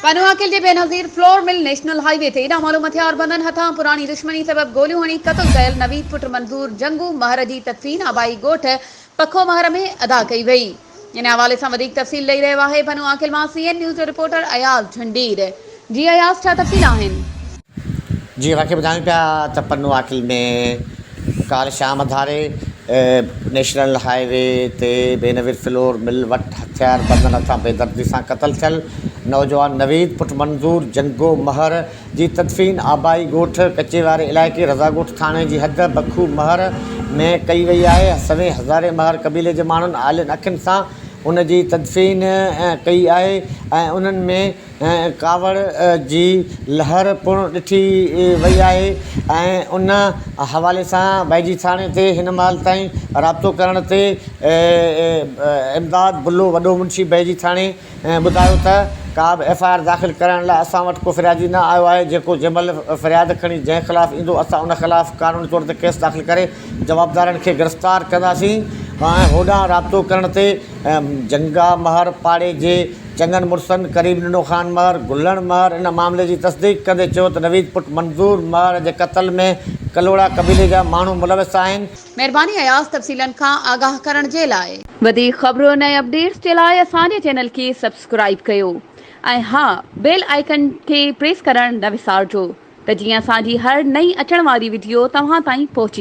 پنهون عاقل جي Benazir flour mill national highway تي ايڏا مالوم هٿيار بندن هٿان پراڻي دشمني سبب گوليون هڻي قتل ڪيل نويد پٽ منظور جنگو مهر جي تدفين آبائي ڳوٺ پکو مهر ۾ ادا ڪئي وئي ان حوالي سان وڌيڪ تفصيل ڏئي رهيو آهي پنهون عاقل مان سي اين نيوز جو رپورٽر اياز جھنڊير جي اياز ڇا تفصيل آهن. جيئن اوهان کي ٻڌايون پيا ته پنو عاقل ۾ ڪالهه شام ڌاري نيشنل هاء وي تي بينظير فلور مل وٽ هٿيار بندن هٿان بيدردي سان قتل ٿيل نوجوان نويد پٽ منظور جنگو مهر جي تدفين آبائي ڳوٺ ڪچي واري علائقي رضا ڳوٺ ٿاڻي جي حد بکو مهر ۾ ڪئي وئي آهي سوين هزاري مهر قبيلي جي ماڻهن آلين اکين سان ان جي تدفين ڪئي آهي ۽ انهن ۾ ۽ ڪاوڙ جي لهر پڻ ڏٺي وئي آهي ۽ ان حوالي سان بيجي ٿاڻي تي هن مهل تائين رابطو ڪرڻ تي امداد بلو وڏو منشي بيجي ٿاڻي ٻڌايو ته ڪا به ايف آء آر داخل ڪرائڻ لاء اسان وٽ ڪو فريادي نه آيو آهي جيڪو جنهن مهل فرياد کڻي جنهن خلاف ايندو اسان ان خلاف قانوني طور تي ڪيس داخل ڪري جوابدارن کي گرفتار ڪنداسين ۽ هوڏانهن رابطو ڪرڻ تي جنگا مهر پاڙي جي چڱن مڙسن قريب ننو خان مهر، گلڻ مهر، ان معاملي جي تصديق ڪندي چيو ته نويد پٽ منظور مهر جي قتل ۾ ڪلهوڙا قبيلي جا ماڻهو ملوث آهن. مهرباني اياز تفصيلن کان آگاهه ڪرڻ جي لاء. وڌيڪ خبرن ۽ اپڊيٽس جي لاء اسان جي چينل کي سبسڪرائيب ڪيو ۽ ها بيل آئيڪن کي پريس ڪرڻ نه وسارجو ته جيئن اسان جي هر نئين اچڻ واري وڊيو توهان تائين پهچي